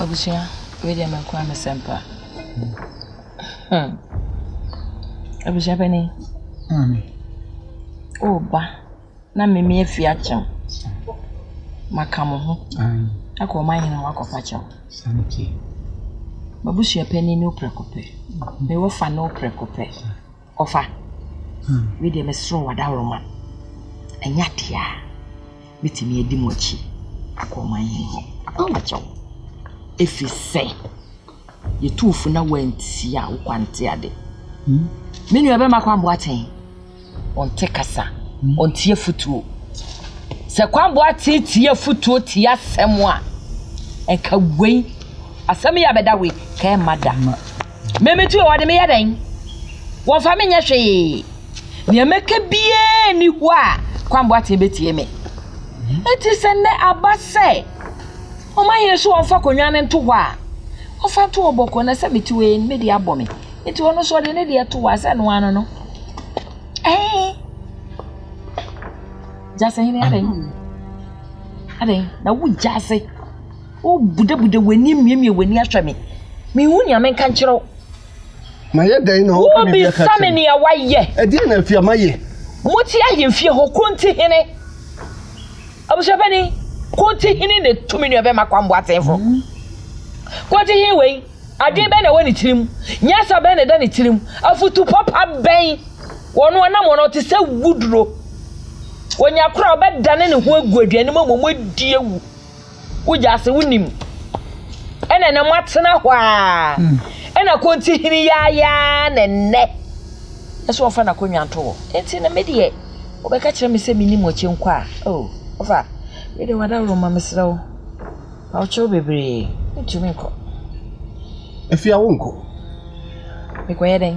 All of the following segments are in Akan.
Abusua wei deɛ mɛko a mesɛm pa hmm abusua panin maame o ba na mimi afi akyɛm maka mo ho akɔ ɔma hene ho akɔfa kyɛw mabusua panin ne woprɛko pɛ mewɔ fa ne woprɛko pɛ Ɔfa, me deɛ mesrɛ wo adaworoma, ɛnyɛ adeɛ a mɛtumi adi mo akyi akɔ ɔman hene hɔ, mɛpa wo akyɛw, ɛfiri sɛ yɛtu wo fo na woantie a wo kwa nte ade. Me nua bɛma Kwan Boateng, ɔnte kasa, ɔntie afotuo. Sɛ Kwan Boateng tie afotuo tie asɛm a, nka wei, asɛm yi a bɛda wei, ka ɛmma da. Me me tuo wɔde me yɛ dɛn wɔmfa me nyɛ hwee nea mɛka biara nni hɔ a kwamboa tee bɛtie me ɛti sɛ nnɛ aba sɛ ɔma hene so wɔmfa konwa no nto hɔ a ɔfa to ɔbɔkɔ na sɛ mete wei no mede abɔ me nti ɔno so ɔde ne deɛ to hɔ a sɛ no ano no ɛɛ gyasɛ hene adɛn adɛn na wogya ase Wobudabuda w'ani miamia w'ani ahwɛ me. Menhu nea menka nkyerɛ wo. Mayɛ dɛn na wopɛ biribi aka kyerɛ me? Wobisa me nea woayɛ. Ɛdeɛn na afei a mayɛ? Mote ahemfie hɔ, kuro nti hene. Abusuapanin, kuro nti hene na etu me nua bɛma kwamboa atenfo. Kuro nti hene wei, adwene bɛn na ɛwɔ ne tirim? Nyansa bɛn na ɛda ne tirim? Afutu papa bɛn? Wɔn anam wɔn ɔte sɛ wuduro. Wɔnya koro a ɔbɛdane ne ho agu aduane mu ama wɔn adi awu. Wogye ase wonim. Ɛna na moatena hɔ a. Hmm. Ɛna konti hene yaayaa na nnɛ. Ɛsɛ ɔfa n'akonnwa nto hɔ. Enti na me deɛ wɔbɛka kyerɛ me sɛ menim ɔkyɛ nkɔ a. Oh, ɔfa. Me deɛ wadaworo ma mesrɛ wo. Ma ɔkyɛ wo bebree. Ntumi nkɔ. Afia wonkɔ. Mekɔyɛ dɛn?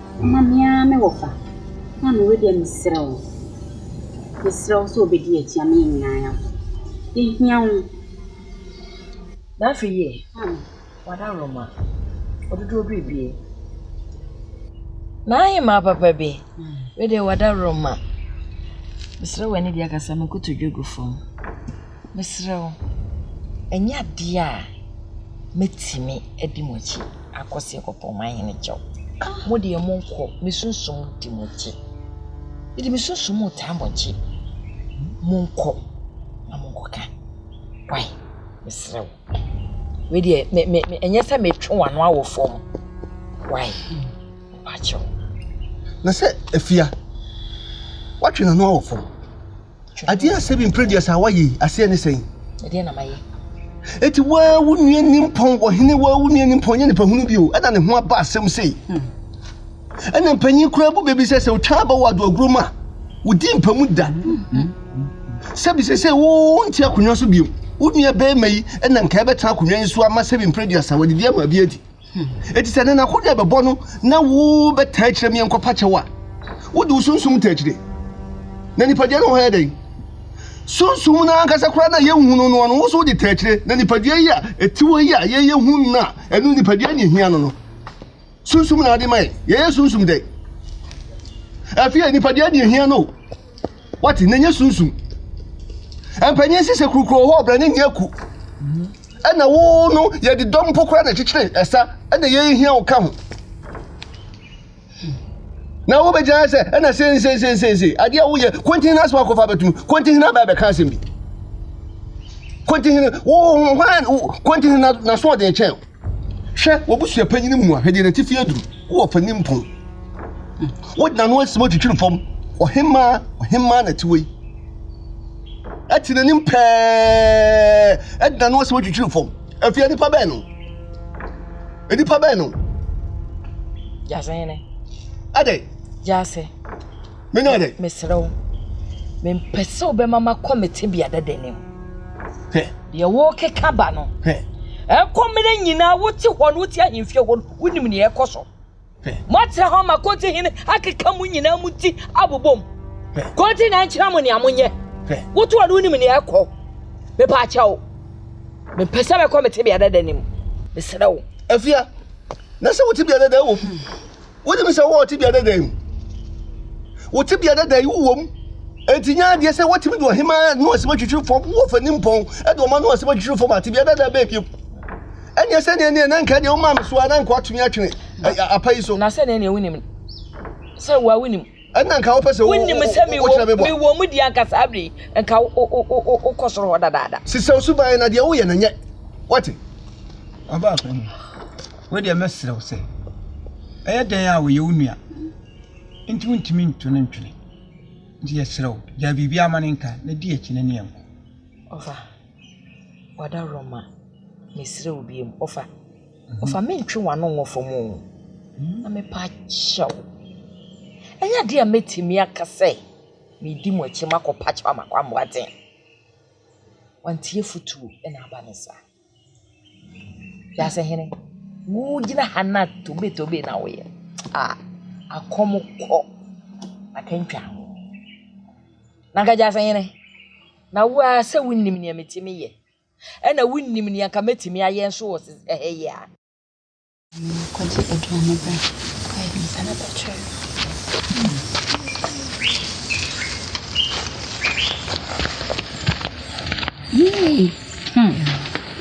Momma me ara me wɔfa, na me were deɛ mesrɛ wo, mesrɛ wo sɛ wobɛdi yɛn akyi ama yɛn nyinaa yɛafa. Yɛhia wo. N'afei yɛ, w'adaworoma, ɔdodoɔ biribiara. M'ahemaa papa bi, wei deɛ w'adaworoma, mesrɛ w'ani deɛ kasa me nkotodwe gu fam. Mesrɛ wo, ɛnyɛ adeɛ a mɛtumi adi mo akyi akɔ sɛ yɛkɔpɛ mo ahene kyɛw. Mo deɛ monkɔ, me sunsum di mo akyi. Mede me sunsum retaa mo akyi. Monkɔ na monkɔka. Wai, mesrɛ wo. Wei deɛ, me, me, me, ɛnyɛ sɛ metwe w'ano awɔ fam. Wai, mepakyɛw. Na sɛ afia, watwe n'ano awɔ fam. Adeɛ a Sebi Mprɛduasa a woayɛ yi, aseɛ ne sɛn? Ɛdeɛn na mayɛ? Enti woa wo nua nimpɔn, ɔhene woa wo nua nimpɔn nyɛ nipa hunu bio, ɛna ne ho aba asɛm sei. Hmm. Ɛna mpanyin koraa bu baabi sɛ sɛ otwa aba wɔ adoaguro mu a, wodi mpa mu da. Hmm. hmm. Sɛbi sɛ sɛ wonte akonnwa so bio, wo nua bɛrima yi ɛna nka ɛbɛtena akonnwa yi so ama Sebi Mprɛduasa, wɔde di ama bi adi. Enti sɛ nnɛ n'akodi a ɛbɛbɔ no na wobɛtaa akyerɛ me nkɔpa kyɛw a, wode wo sunsum taa akyire. Na nipadua no wɔ hɔ yɛ dɛn? Sunsum no ankasa koraa no a yɛnhu no no, ɔno wo nso wode taa akyire. Na nipadua yi a ɛte hɔ yi a yɛyɛ hu no a, ɛno nipadua ne ɛhia no no, sunsum na ade ma yɛn. Yɛyɛ sunsum dɛn? Afei nipadua ne ɛhia no o. Wate na nyɛ sunsum. Mpanyin si sɛ kurokuro hɔ ɔbrɛ ne nyɛ ku. Ɛna wo no yɛde dɔm mpo koraa na kyekyere ɛsa ɛna yɛhia wo ka ho. Na wobɛgyina sɛ ɛna sensensensensei adeɛ a woyɛ konti hena asɛm akɔfa abɛtum konti hena bɛɛ bɛka asɛm bi. Konti hena wo hwan konti hena na so ɔden kyɛn. Hwɛ, w'abusua panyin mu ahwɛdeɛ no atifi aduru, wowɔ ɔpanin mpon. Wode n'ano asim atwitwiri fam, ɔhemmaa, ɔhemmaa na ɛte hɔ yi. Ɛte n'anim pɛɛ, de n'ano asim atwitwiri fam. Afei nnipa bɛn no? Nnipa bɛn no? Gyasehene. Adɛn? Gyase. menya dɛ. mesrɛ wo mempɛ sɛ wobɛma makɔ me tebea dadanim deɛ worekeka ba no ɛkɔ mmerɛ nyinaa wote hɔ no wote ahemfie hɔ no wonim neɛ ɛkɔ so moatra hɔ ma konti hene akeka mu nyinaa mu ti abobom konti na nkyerɛ mo nea monyɛ wote hɔ no wonim neɛ ɛkɔ mepaakyɛ wo mempɛ sɛ mɛkɔ me tebea dadanim mesrɛ wo afia na sɛ wote bia dada wɔ mu wonim sɛ wowɔ tebea dada yi mu wo tebea dada yi wowɔ mu enti nyɛ adeɛ sɛ woatumi de ɔhema no asɛm atwitwiri fam wowɔ fani mpɔn de ɔma no asɛm atwitwiri fam a tebea dada bɛɛ biom ɛneɛ sɛdeɛ neɛ na nka deɛ womaa me so a na nka woatumi atwene apa yi so na sɛdeɛ neɛ wonim sɛ woa wonim Ɛnna nka wopɛ sɛ wo wo wo sɛ mewɔ wokyerɛ me bɔ a. mewɔ mu di anka saa bere yi nka wo wo wo wo wokɔ soro hɔ dadaada. Sesaw suban na deɛ woyɛ no nyɛ. Woate? Ɔbaa panin, wo deɛ mɛsrɛ wo sɛ, ɛyɛ dɛn a ɔyɛ wo nua nti wontumi nto no ntwene. Nti yɛsrɛ wo, gyae biribiara ma no nka na di akyi no ne yɛn nkɔ. Ɔfa, w'adaworo mma. Mesrɛ wo bio, ɔfa. Ɔfa me ntwe w'ano ngo fam o, na mepa kyɛ wo. Ɛnyɛ adeɛ a mɛtumi aka sɛ medi mo akyi makɔ pa kyɛ makɔ amoa den. Wantie futuo na aba ne saa. Wiase hene, wogyina ha na tobe tobe na woyɛ. Ah, akɔm kɔ akantwa ho. Na nka gyase hene, na wo ara sɛ wonim nea metumi yɛ. ɛna wonnim nea nka mɛtumi ayɛ nso wɔ ɛhɛ yi a. Kɔgye aduane bra kɔyɛ nsa na bɛkyerɛ no. Yee! Hmm.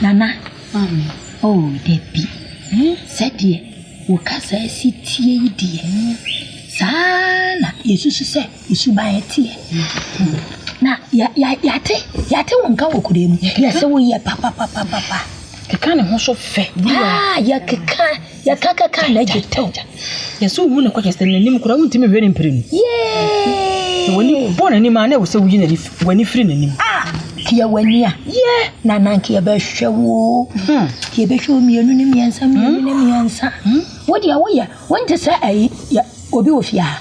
Nana. Mami. Oh, dabi. Hmm? Sɛdeɛ wo kasa asi tie yi deɛ. Hmm? Saa na yɛsusu sɛ Suban ɛteɛ na yɛate yɛate wo nka wɔ kura mu yɛsɛ wo yɛ papapapapa keka ne ho so fɛ aa yɛkeka yɛka keka na agye tɛw yɛsɛ wohu ne kɔkyɛ sɛ n'anim kora wontumi hwɛ ne mpire no yee w'ani bɔ n'anim a na ɛwɔ sɛ woyi n'ani w'ani firi n'anim ah kiɛ w'ani a yɛ na nanka yɛbɛhwɛ wo hmm. kiɛ bɛhwɛ wo mmienu ne mmiɛnsa mmienu ne mmiɛnsa hmm. wodeɛ woyɛ wonte sɛ ayi obi wɔ fie ha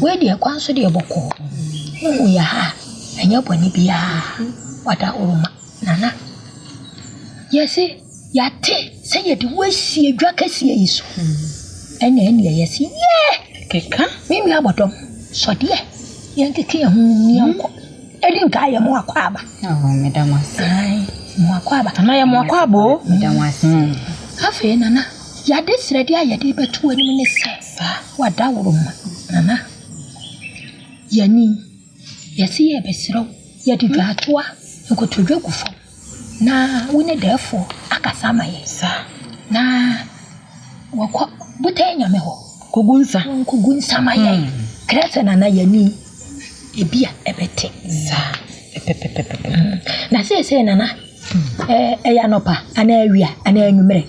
Wei deɛ kwan so deɛ bɔkɔɔ wohu yɛ ha a ɛnyɛ bɔne biara wada horo ma nana yɛse yɛate sɛ yɛde wo asie dwa kɛseɛ yi so ɛna ɛneɛ yɛse yɛ keka me nua bɔdɔm sɔdeɛ yɛnkeke yɛ ho yɛnkɔ ɛdi nka yɛ mo akɔ aba mo akɔ aba ana yɛ mo akɔ aba o afei nana yɛade srɛdeɛ a yɛde bɛto anim ne sɛ Fa w'adaworo ma Nana. Yɛ ni, yɛse yɛrebɛsrɛ wo, yɛde dwatoa, nkotodwe gu fam na wo ne dɛɛfoɔ akasa ama yɛn. Saa. Na wɔkɔ botan nyame hɔ. Kɔgu nsa. Nkɔgu nsa ma yɛn. Mm. Kyerɛ sɛ Nana yɛ ni, ebi a ɛbɛte. Saa. Pɛpɛpɛpɛpɛ. Mm. Na seesei Nana, ɛɛ, ɛyɛ anɔpa anaa awia anaa anwummerɛ.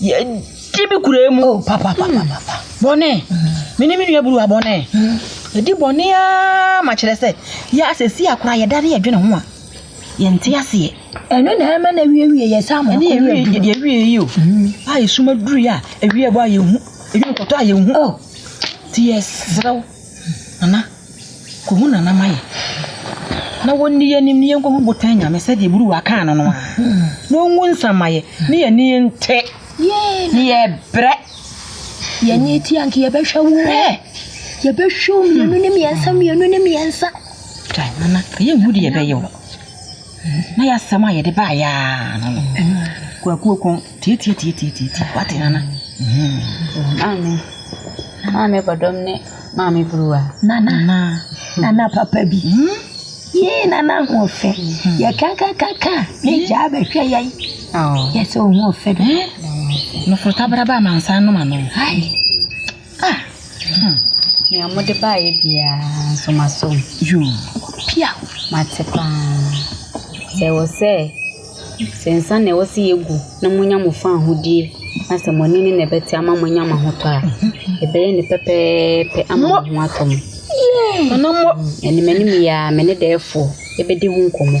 yɛdi me kura mu oh, bɔne mene me nua buruwa bɔne ɛdi bɔne a ma kyerɛ sɛ yɛ asɛsi akora yɛda ne yɛdwene ho a yɛnte aseɛ ɛno na ɛma na awiewie yɛ saa mɔkɔ yɛde awie yi o a ɛsuma duru yɛ a awie bɔ a yɛhu ɛdwene kɔtɔ a yɛhu oh. nti yɛserɛ wo nana Kohu na nam ayɛ. Na wɔnni yɛn anim ne yɛnkɔhu botan nyame sɛdeɛ buruwa kaa no no a, na ɔngu nsamayɛ ne yɛn ani nte ne yɛbrɛ. Yɛn ani tia nka yɛbɛhwɛ wo yɛbɛhwɛ wo mmienu ne mmiɛnsa mmienu ne mmiɛnsa. Kae nana ɛyɛ nhu deɛ yɛbɛyɛ o na yɛasɛm a yɛde baayɛ a no no kwakuo kɔn Tiatiatiatiatiatii wate nana maame maame bɔdɔm ne maame buruwa nana nana papa bi yee nana ho ɔfɛ yɛ kakakaka ne gyaa bɛhwɛ yɛn yɛ sɛ ɔho ɔfɛ do noforo tabraba amansa nom ano Ah hmm Nea mode baeɛ biara nso masɔ mu Yoo pia Mate paa Sɛ ɛwɔ sɛ Sɛ nsa na ɛwɔ sɛ yɛgu na monya mo fã ahodie Na sɛ mo ani ne na ɛbɛte ama moanya mo ahotɔ a Ɛbɛyɛ ne pɛpɛɛpɛ ama mo ho atɔ mo Ɛnemanim yi ara me ne dɛɛfoɔ bɛdi ho nkɔmmɔ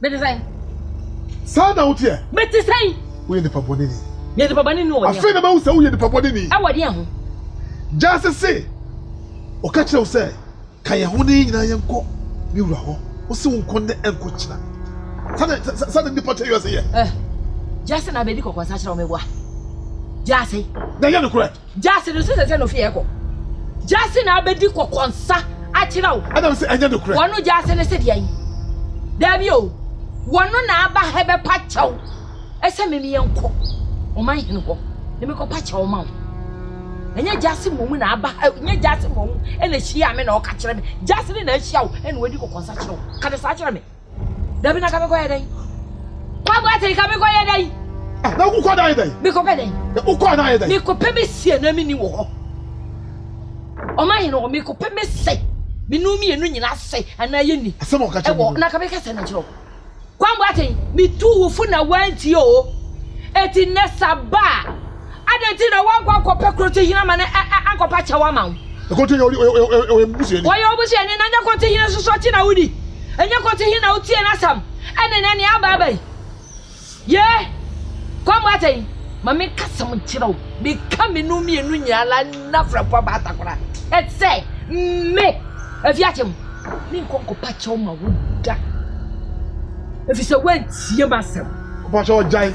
Mete sɛn? Saa na woteɛ. Mete sɛn? Woyɛ nipa bɔne ni. Meyɛ nipa bɔne ni wɔ deɛ ho. Afei na mahu sɛ woyɛ nipa bɔne ni. Ɛwɔ deɛ ho? Gyase se, Ɔka kyerɛ wo sɛ, Ka yɛn ho na yɛn nyinaa yɛnkɔ me wura hɔ. Ose wo nkɔ nnɛ ɛnkɔ kyina. Saa na nipa tɛ wiase yɛ. Gyase na bɛdi kɔkɔnsa kyerɛ wo meboa. Gyase. Na ɛnyɛ nokorɛ. Gyasi no so sese no fi ɛkɔ. Gyasi na abedi kɔkɔ nsa akyerɛ wo. Ɛna wo se ɛnyɛ no korɛ. Wɔno gyasi no se deɛ yi. Daabi o. Wɔno na aba ha bɛ pa kyɛw. Ɛsɛ me meyɛ nkɔ. Ɔman hene hɔ. Ne me kɔ pa kyɛw ma wo. Ɛnyɛ gyasi mom na aba ha. Ɛnyɛ gyasi mom ɛna hyia me na ɔka kyerɛ me. Gyasi no na ahyia wo ɛna wadi kɔkɔ nsa kyerɛ wo. Ka ne saa kyerɛ me. Dabi na kabe kɔyɛ dɛn? Kwaku ate kabe kɔyɛ dɛn? Ah, na wokɔ dan yɛ dɛn? Mekɔpɛ dɛn? Wokɔ dan yɛ dɛn? Mekɔpɛ me sie na menni wɔ hɔ. Ɔma hene hɔ mekɔpɛ me sɛ menu mmienu nyinaa sɛ anaa yɛnni. Asɛm a ɔka kyerɛ mu. Na kabe ka sɛ na kyerɛ wo. Kwambo ate metu wo fo na wantie o. Eti nɛ sa ba a. Adɛn nti na woankɔ ankɔpɛ Krotohene ama no ankɔpa kyɛw ama wo? Krotohene ɔyɛ me busuani. Ɔyɛ wo busuani na nyɛ Krotohene nso so akyi na wodi. Ɛnyɛ Krotohene na wotie n'asɛm ɛne nɛ nea aba aba yi. Yee, kɔ mmɔ atɛn. Ma menka asɛm nkyerɛ wo. Meka me nom mmienu nyinaa la nna frɛmfoɔ baata koraa. Ɛsɛ me ɛfi akyem. Menkɔ nkɔpa kyɛw ma wo da. Ɛfiri sɛ woantie m'asɛm. Mpakyɛw gyae.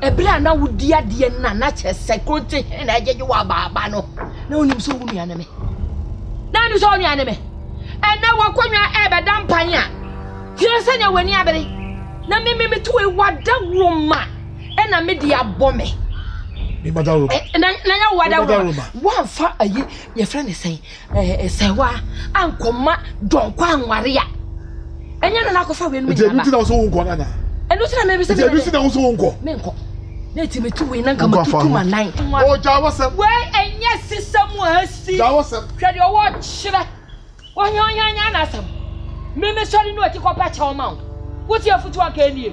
Bere a na wodi adeɛ no na na kyerɛ sɛ kronte he na agyegye wɔ abaaba no. Na wonim sɛ wo nua ne me. Na wonim sɛ wo nua ne me. Ɛnɛ w'akonnwa ɛrebɛda mpan a, hwɛ sɛnea w'ani abere. Na me me meto wei w'adaworoma ɛna me de abɔ me. Me madaworoma. Na nyɛ w'adaworoma. Woamfa ayi yɛfrɛ ne sɛn Nsɛwaa a nkɔma dɔnkɔ anware a. Ɛnyɛ no na akɔfa wei no mu nyinaa ba. Nti ɛno ti na wosɛ wonkɔ no anaa? Ɛno ti na mɛbi sɛ mɛbi. Nti ɛno ti na wosɛ wonkɔ. Menkɔ. Na ɛti metu wei na nka matutu ma nan. O gya wɔsɛm. Wei ɛnyɛ sisa mu a asi. Gya wɔsɛm. Hwɛ deɛ ɔwɔ kyerɛ. Ɔhia ɔhia nyɛ anasɛm. Meme sɔre no ɔti kɔpɛ kyɛw ma wo. Wotie afutuo anka ɛnie.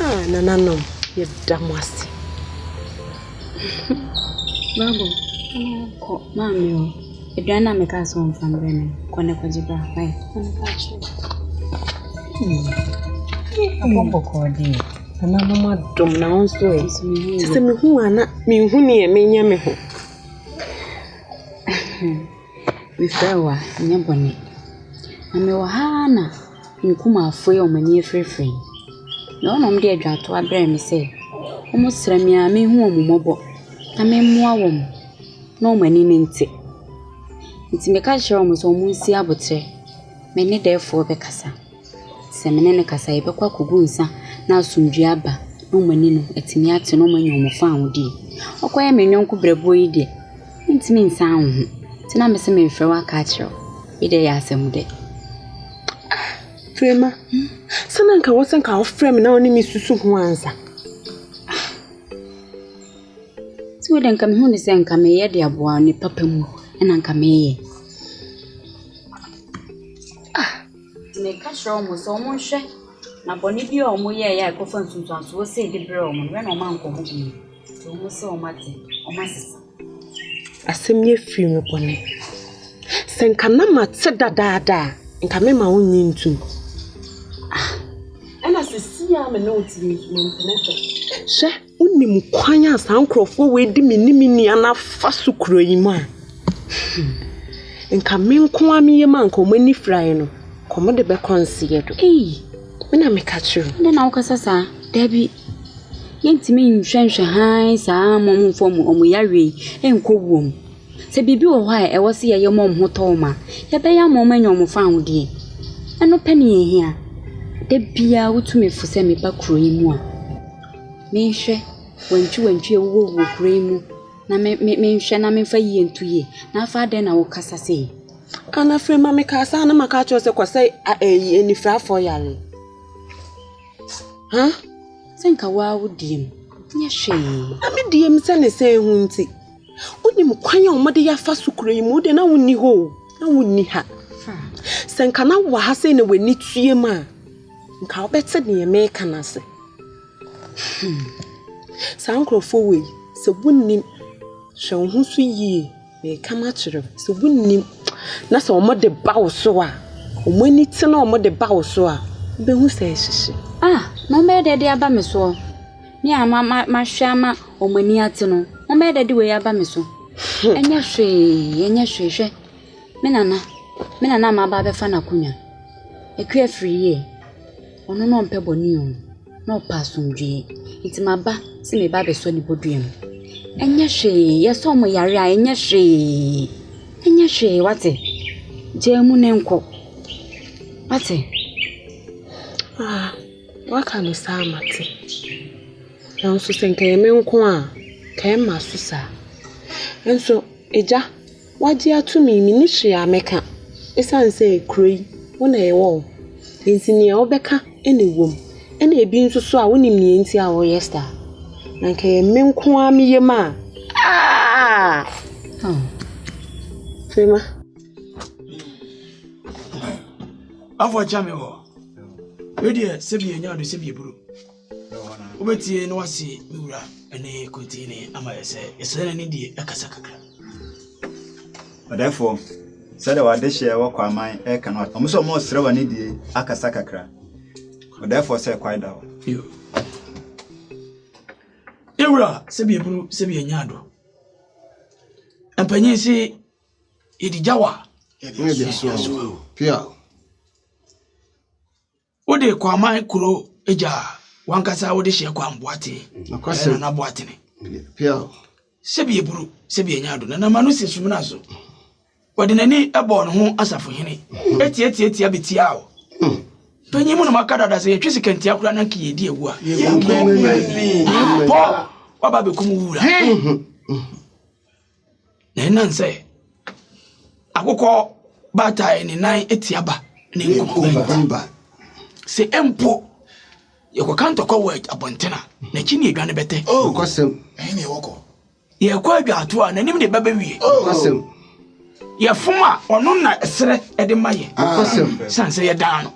Ah, nananom, yɛda mo ase. Baabo, kɔ maame o. Aduane na meka sɛ ɔmfa mbrɛ me. Kɔ ne kɔgye bra. Hwae. Abɔ bɔkɔɔ deɛ. Nananom adom na wo nso ɛ. Sɛ mehu a na menhu neɛ menyɛ me ho. Mefrɛ wo a, nyɛ bɔne. Na mewɔ ha ara na me nkumafoɔ yi a wɔn ani afirafira yi, na wɔnom de adwantoa brɛɛ me sɛ wɔsrɛ me a menhu wɔn mmɔbɔ na memmoa wɔn na wɔn ani no nte. Nti meka kyerɛɛ wɔn sɛ wɔnsi aboterɛ, me ne dɛɛfoɔ bɛkasa. Sɛ me ne no kasa a, yɛbɛkɔ akɔgu nsa na asomdwoeɛ aba na wɔn ani no atumi ate na wɔanya wɔn fawodeɛ. Wokɔyɛ me yɔnko berɛboɔ yi deɛ, mentumi nsan wo ho. Nti na mese memfrɛ wo aka akyerɛ wo. Wei deɛ ɛyɛ asɛm dɛ. Frema, sɛ na nka wɔsɛ nka wofrɛ me na wo ne me susu ho ansa. Nti wei deɛ nka mehu ne sɛ nka meyɛ de aboa ne papa mu ɛna nka meyɛ. Meka kyerɛ wɔn sɛ wɔnhwɛ na bɔne bi a wɔyɛeɛ a ɛkɔfa nsunsuansoɔ sei de brɛɛ wɔn no, yɛn na wɔankɔ ho bio. Nti wɔn sɛ wɔate, wɔasesa. Asɛm yi afiri me bɔne. Sɛ nka na mate dadaada a, nka mema wo nyi ntom. Ah, ɛna sɛ si a me ne wo tiri nso mempene so. Hwɛ, Wonim kwan a saa nkurɔfoɔ wei de me ne me nua no afa so kuro yi mu a, hmm, nka me nko a meyɛ mu a nka wɔn ani firaeɛ no, nka wɔn de bɛkɔ nseɛ do. Ei, me na meka kyerɛ. Dɛn na wokasa saa? Dabi. Yɛntumi nhwɛnhwɛ hann saa ma wɔn mfa wɔn wɔn yareɛ yi nkɔ wuo mu. Sɛ biribi wɔ hɔ a ɛwɔ sɛ yɛyɛ ma wɔn ho tɔ wɔn a, yɛbɛyɛ ama wɔn anya wɔn fawodeɛ. Ɛno pɛ ne yɛhia. Da biara wotu me fo sɛ meba kuro yi mu a. Menhwɛ wantwiwantwi a ɛwowɔ wɔ kuro yi mu na menhwɛ na memfa yie nto yie. Na afei adɛn na wokasa sei? Ana afei ma mekaa saa na maka akyerɛ wo sɛ kɔsɛ ayi anifirafoɔ yare. Ha? Sɛ nka woa wo diem nyɛ hwee. Na me diem sɛ ne sɛ ho nti. Wonim kwan a wɔde yɛ afa so kuro yi mu wode na wonni hɔ o na wonni ha. Sɛ nka na wɔ ha sɛ na w'ani tuem a. Nka wobɛte deɛ meka no ase. Hmm. Saa nkurɔfoɔ wei, sɛ wonnim, hwɛ wo ho so yie. Meka makyerɛ wo, sɛ wonnim na sɛ wɔde ba wo so a, wɔn ani te na wɔde ba wo so a, wobɛhu sɛ ɛhyehye. Ah, na wɔbɛyɛ dɛ de aba me soɔ. Me a ma ma mahwɛ ama wɔn ani ate no, wɔbɛyɛ dɛ de wei aba me so. Hmm. Ɛnyɛ hwee, ɛnyɛ hwee hwɛ. Me nana, me nana a maba abɛfa n'akonnwa. Aku afiri yie. Ɔno na ɔmpɛ bɔne o, na ɔpɛ asomdwoeɛ. Nti maba sɛ mereba abɛsɔ ne bodua mu. Ɛnyɛ hwee, yɛsɔ wɔn yare a, ɛnyɛ hwee. Ɛnyɛ hwee, woate? Gyaa mu na nkɔ. Woate? Ah, woaka no saa a, mate. Nanso sɛ nka ɛyɛ me nko a, nka ɛmma so saa. Nso, agya. Wagye ato me yi, menni hwee a mɛka ɛsiane sɛ kuro yi, wo na ɛwɔ hɔ. Enti nea wobɛka na ɛwom. Ɛna ebi nso so a, wonim nea enti a wɔyɛ saa. Na anka ɛyɛ me nko ara me yam a, aa! Firima. Afɔ kyɛ me wɔ. Wei deɛ sɛbi ɛnyɛ ade sɛbi ɛburo. Wobɛtie na woase me wura ne Kotini ama yɛ sɛ yɛsrɛ no ne die ɛkasa kakra. Ɔdɛfoɔ, sɛdeɛ w'adehyeɛ wɔ Kwaman ɛka no, ɔmo sɛ ɔmo resrɛ w'ane die akasa kakra. Ɔdɛfoɔ sɛ kwae da hɔ. Yo. Me wura, sɛbi aburu, sɛbi anya ado. Mpanyin se yɛdi gyawa. Yɛde asoa o. Pia. Wode Kwaaman kuro agya a, w'ankasa wode hyɛ Kwaan Boatee, ɛyɛ Nana Boatene. Sɛbi aburu, sɛbi anya ado, Nana Manu se sumina so. Ɔde n'ani bɔɔ ne ho asafohene, atiatiatia bɛtiaa o. Panyin mu nom aka dada sɛ yɛtwe sika ntia koraa na nka yɛdi awu a. Yɛnkum ani. Pɔ, waba bɛkum wo wura. Na ɛnam sɛ akokɔ baatae ne nan tia ba ne nkuruwa sɛ mpo yɛkɔka ntɔkwa wɔ abɔnten a n'akyi ne adwa no bɛtɛ oh. yɛkɔ adwaato a n'anim ne ba bɛwie oh. yɛfom a ɔno na ɛserɛ de ma yɛn sane sɛ yɛdan no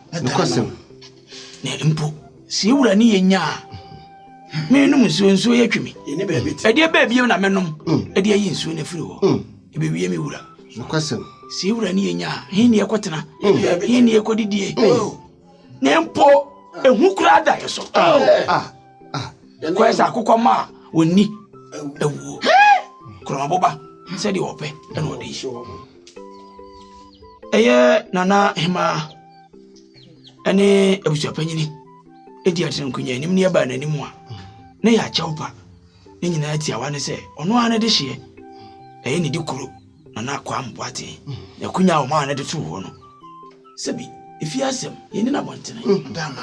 Na mpo sɛ yɛwura ne yɛnya a menom nsuo nsuo yɛ twe me ɛdeɛ bɛɛ biam na mɛnom ɛde mm. ayi nsuo no afiri hɔ mm. ɛbɛwie me wura sɛ yɛwura ne yɛnya a he ne yɛkɔtena mm. he ne yɛkɔdidie oh. na mpo ɛhu koraa da yɛ so ah, ah, ah. kɔɛ sɛ akokɔ ma a wɔnni awuo korɔmaboba sɛdeɛ ɔpɛ ɛna ɔde yi ɛyɛ nana hemaa ɛne abusuapanyini ɛdi atena nkonya anim ne ɛbaa n'anim a na yɛ akyɛw pa ne nyinaa tiawa ne sɛ ɔno ara ne de hyeɛ ɛyɛ ne de kuro na na akwaa mboaten na akonya a ɔmaa no de too hɔ no sɛbi ɛfie asɛm yɛni no abɔntene dama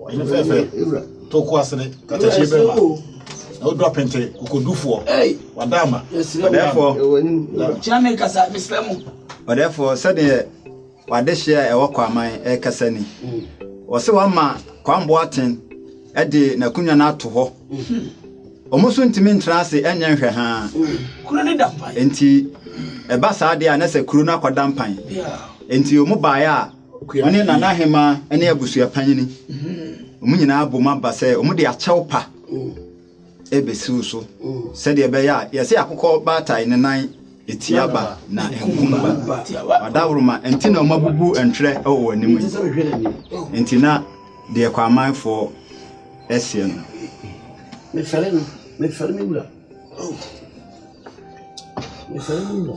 ɔyere fɛfɛ toko asene katakyi bɛma na wodɔ apente kokodufoɔ wada ama ɔdɛɛfoɔ kyerɛ me kasa mesrɛ mo ɔdɛɛfoɔ sɛdeɛ wadehyeɛ a ɛwɔ kwaman ɛkasa ni wɔ sɛ wama kwamboa aten ɛde n'akonnwa no ato hɔ wɔn nso ntumi ntena ase ɛnyɛ nhwɛ ha kuro ne da mpan nti ɛba saa deɛ a na sɛ kuro no akɔda mpan nti wɔn baeɛ a Ɔne Nanahemaa ne abusua panyini, wɔn nyinaa bom aba sɛ wɔde akyɛw pa rebesiw so sɛdeɛ ɛbɛyɛ a yɛse akokɔ baatae ne nan etia ba na nkum ba. Ɔdaworoma nti na wɔabubu ntwerɛ wɔ wɔn anim yi. Nti na deɛ Kwamanfoɔ ɛseɛ no. Mefɛre no, mefɛre me wura. Mefɛre me wura.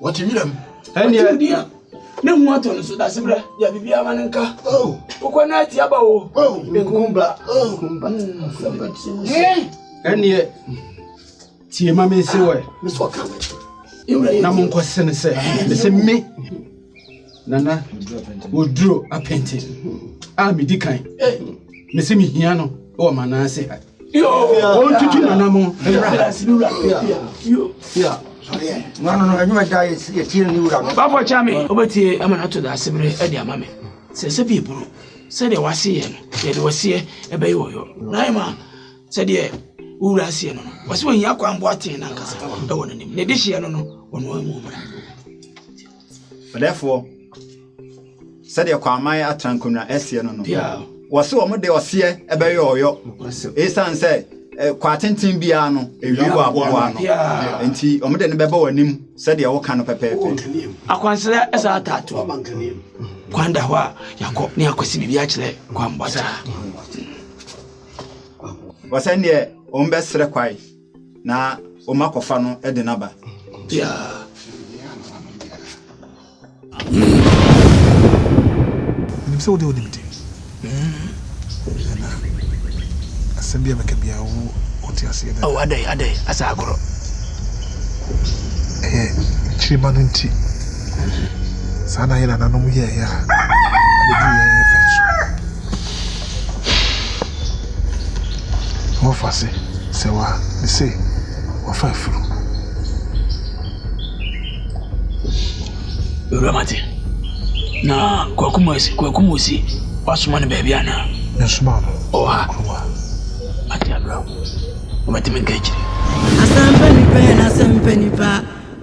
Wɔte wiram. Ɛnneɛ. Wɔte odi a ne ho atɔ no so dase bra. Yɛ biribi ama no nka. Oh. Wokɔ na ati aba o. Oh. Nkumba. Oh. Nkumba. Hmm. Ɛnneɛ. Tie ma me nse wɔ. Mesɛ ɔka. Na mo nkɔ sene sɛ. Mesɛ me. Nana Oduro Apente a medi kan mese mehia no wɔ m'anaase ha ɔntutu nana mo bafɔ kya me wobɛtie ama no ato da asebere de ama me sɛ sɛ bie pono sɛdeɛ waseɛ no yɛde wɔseɛ ɛbɛyɛ wɔ yɔ naima sɛdeɛ wowura aseɛ no no wɔsɛ wɔhia kwan boa tee no ankasa ɛwɔ no nim ne de hyeɛ no no wɔnoa mu mmra Ɔdɛfoɔ, sɛdeɛ Kwaaman Atrankonnwa seɛ no no, wɔse wɔn de ɔseɛ bɛyɛ ɔyɔ ɛsiane sɛ kwaa tenten biara no ɛwie wɔ aboboa no nti wɔn de no bɛba wɔn anim sɛdeɛ woka no pɛpɛɛpɛ. Akwansra ɛsa ataato kwan da hɔ a yɛakɔ ne akɔsi biribi akyerɛ kwanbɔkya. Wɔsɛ deɛ wɔn bɛsrɛ kwae. Na ɔma kɔfa no de no aba. Biara. Menim sɛ wode wonim de. Hwɛ na asɛm bi a mɛka biara wo wote aseɛ dada. Oh adɛn adɛn asa agorɔ. Ɛyɛ nkyirima no nti. Saa na yɛn nananom yɛɛyɛ a ɛbɛduru yɛn pɛn so. Wɔfa se sɛ wa me se wɔfa afuru. Ewura Mate, na Kwaku Mose, Kwaku Mose wasoma no baabi anaa? Yɛsoma no. Ɔwɔ ha. Kurom ha. Ate abira. Wɔbɛte me nka akyiri. Asɛmpa nipa yɛ n'asɛmpa nipa.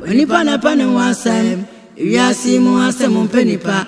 Onipa na pɛ ne ho asɛm. Ewiase mu asɛm mpɛ nipa.